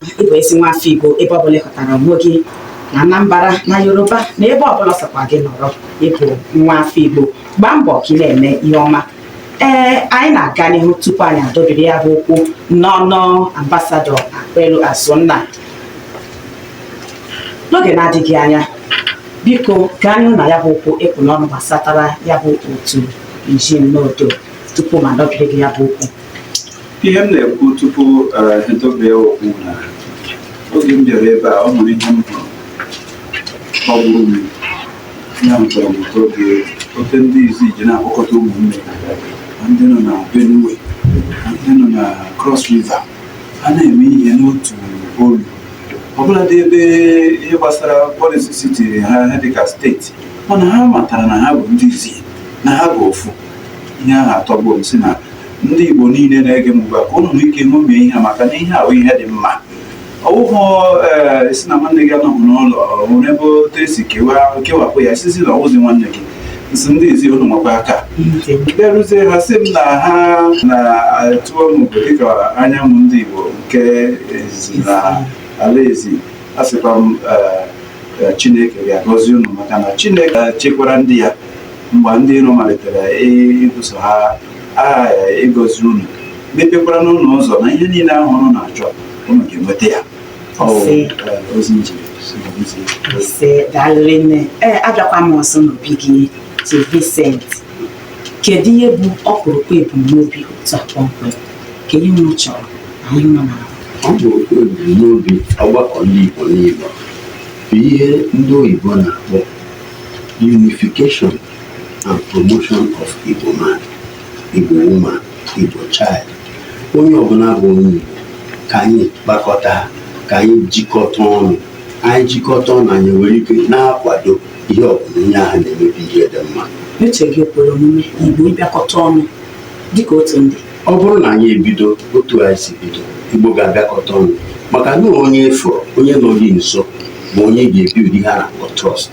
ị bụ ezi nwa afọ Igbo ebe ọbụla ị hụtara onwe gị na Anambra na Yoruba na ebe ọbụla sọkwa gị nọrọ ị bụ nwa afọ Igbo gbaa mbọ ka ị na-eme ihe ọma ee anyị na-aga n'ihu tupu anyị adọbiri ya bụ okwu n'ọnụ ambasadọ Akpelu Azụnna n'oge na-adịghị anya biko gaa n'ihu na ya bụ okwu ị kpụ n'ọnụ gbasatara ya bụ otu nji n'odo tupu m adọbiri gị ya bụ okwu ihe m na-ekwu tupu edobe eh, okwu na oge m bịara ebe a ọ nwere ihe m hụrụ tọgburu m ya hụtara m ụtọ oge oke ndị Izzi ji na-akpọkọta ụmụnne ndị nọ na Benue ndị nọ na Cross River ha na-eme ihe n'otu olu ọbụladị ebe ihe gbasara policy siti ha dịka state mana ha matara na ha bụ ndị Izzi na ha bụ ofu ihe ahụ atọgbuo m si na ndị Igbo niile na-ege m ugbu a ka unu nwee ike ṅomie ihe a maka na ihe a wụ ihe dị mma ọ wụhụ eh, sị na nwanne gị anọghị n'ụlọ nwere ebe otu e si kewapụ ya sịzi na ọ wụzi nwanne gị m sị ndị Izzi unu nwekwa aka bịaruzie ha sị m na ha na-atụọ m obodo dịka anyanwụ ndị Igbo nke Izzi na ala Izzi asịkwa m eh, eh, Chineke ga-agọzi unu maka na Chineke chekwara ndị ya mgbe ndị iro malitere ibuso ha a ịgọzi unu mepekwara unu ụzọ na ihe niile ahụ unu na-achọ unu ga-enweta ya ozi njiri daalụ rinne ee abịakwa m ọzọ n'obi gị Chief Vincent kedu ihe bụ ọkpụrụkpụ ebumnobi otu a kpọmkwem ka ihe unu chọrọ na ihe unu na-arụ ọkpụrụkpụ ebumnobi ọgbakọ ndị Igbo niile bụ ihe ndị oyibo na-akpọ unification and promotion of Igbo man, Igbo woman, Igbo child. Onye ọbụla bụ onye Igbo ka anyị kpakọta ka anyị jikọta ọnụ anyị jikọta ọnụ anyị nwere ike na-akwado ihe ọbụla onye ahụ na-eme bụ ihe dị mma. Uche gị kwere omume Igbo ịbịakọta ọnụ dịka otu ndị. Ọ bụrụ na anyị ebido otu anyị si bido Igbo ga-abịakọta ọnụ maka na onye ị fụrụ onye nọ gị nso ma onye ga-ebuild ihe a na-akpọ trust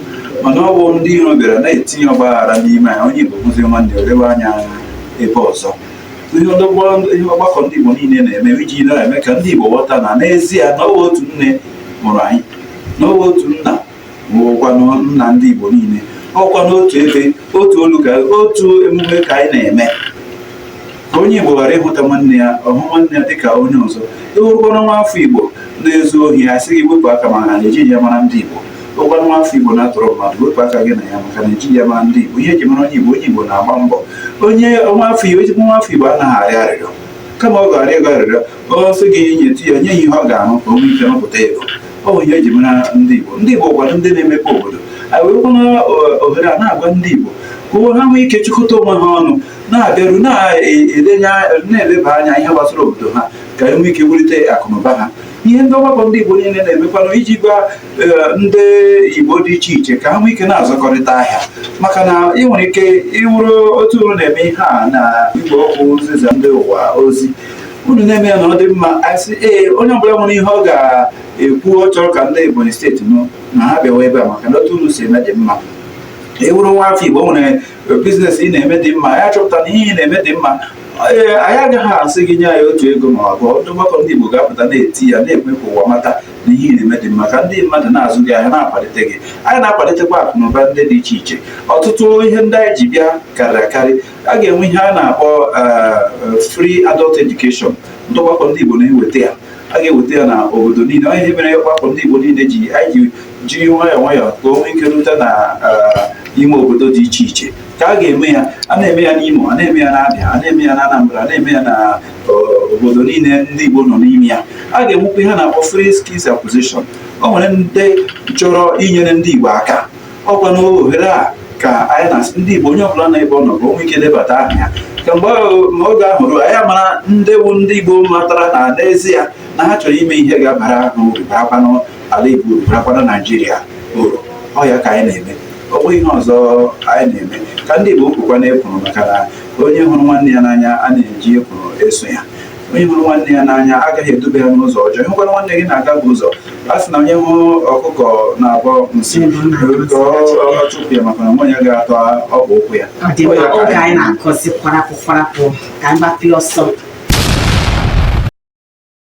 mana ọ bụ ndị iro bịara na-etinye ọgbaghara n'ime anyị onye Igbo hụzi nwanne o lewe anya ebe ọzọ ihe ọgbakọ ndị Igbo niile na-eme iji na-eme ka ndị Igbo ghọta na n'ezie na ọ bụ otu nne mụrụ anyị na ọ bụ otu nna bụkwanụ nna ndị Igbo niile ọkwa n'otu ebe otu olu ka otu emume ka anyị na-eme ka onye Igbo ghara ịhụta nwanne ya ọ hụ nwanne ya dịka onye ọzọ ị wụrụkwana nwa afọ Igbo na-ezu ohi a sị gị wepụ aka maka na ejighị ya mara ndị Igbo ị wụkwa nwa afọ Igbo na-atọrọ mmadụ wepụ aka gị na ya maka na ejighị ya mara ndị Igbo ihe eji mara onye Igbo onye Igbo na-agba mbọ onye nwa afọ Igbo ezigbo nwa afọ Igbo anaghị arịọ arịrịọ kama ọ ga-arịọ ego arịrịọ ọ sị gị nyetụ ya nye ya ihe ọ ga-arụ ka o nwee ike rụpụta ego ọ bụ ihe eji mara ndị Igbo ndị Igbo wụkwara ndị na-emepe obodo anyị werekwana ohere a na-agwa ndị Igbo ka ha nwee ike chịkọta onwe ha ọnụ na-abịaru na-eleba anya ihe gbasara obodo ha ka e nwee ike wulite akụnụba ha ihe ndị ọgbakọ ndị Igbo niile na-emekwanụ iji gwa e, ndị Igbo dị iche iche ka ha nwee ike na-azụkọrịta ahịa maka na ị nwere ike ịwụrụ otu unu na-eme ihe a na igwe okwu nzisa ndị ụwa ozi unu na-eme ya na ọ dị mma a sị ee onye ọbụla nwere ihe ọ ga-ekwu ọ chọrọ ka ndị Ebonyi steeti nụ na ha bịawa ebe a maka na otu unu si eme dị mma ị wụrụ nwa afọ Igbo nwere biznes ị na-eme dị mma anyị achọpụta na ihe ị na-eme dị mma ee anyị agaghị asị gị nye anyị otu ego ma ọ bụ ndị ọgbakọ ndị Igbo ga-apụta na-eti ya n'ekwe ka ụwa mata na ihe ị na-eme dị mma ka ndị mmadụ na-azụ gị ahịa na-akwalite gị anyị na-akwalitekwa akụ na ụba ndị dị iche iche ọtụtụ ihe ndị anyị ji bịa karịrị akarị a ga-enwe ihe a na-akpọ eh, free adult education ndị ọgbakọ ndị Igbo na-eweta ya a ga-eweta ya na obodo niile o nwe ihe mere ọgbakọ ndị Igbo niile ji anyị ji jiri nwayọọ nwayọọ ka o nwee ike rute na eh, ime obodo dị iche iche ka a ga-eme ya a na-eme ya n'Imo a na-eme ya n'Abịa a na-eme ya n'Anambra a na-eme ya na eh, obodo niile ndị Igbo nọ n'ime ya a ga-enwekwa ihe a na-akpọ free skills acquisition o nwere ndị chọrọ inyere ndị Igbo aka ọ kwa na ohere a ka anyị na ndị Igbo onye ọbụla na ebe ọ nọ ka o nwee ike debata aha ya ka mgbe oge ahụ ruo anyị mara ndị bụ ndị Igbo matara na n'ezie na ha chọrọ ime ihe ga-abara ha uru barakwanụ ala Igbo uru barakwanụ Naijiria uru ọ ya ka anyị na-eme ọ bụghị ihe ọzọ anyị na-eme ka ndị Igbo kwukwa na ekwuru maka na onye hụrụ nwanne ya n'anya a na-eji ekwuru eso ya onye hụrụ nwanne ya n'anya agaghị edube ya n'ụzọ ọjọọ ị hụkwara nwanne gị na-agafu ụzọ a sị na onye hụ ọkụkọ na-abọ nsị ka ọ chụpụ ya maka na amaghị onye ga-ata ọkpa ụkwụ ya ọ dị mma oge anyị na-akọzi kwarapụ kwarapụ ka anyị gbapịa ọsọ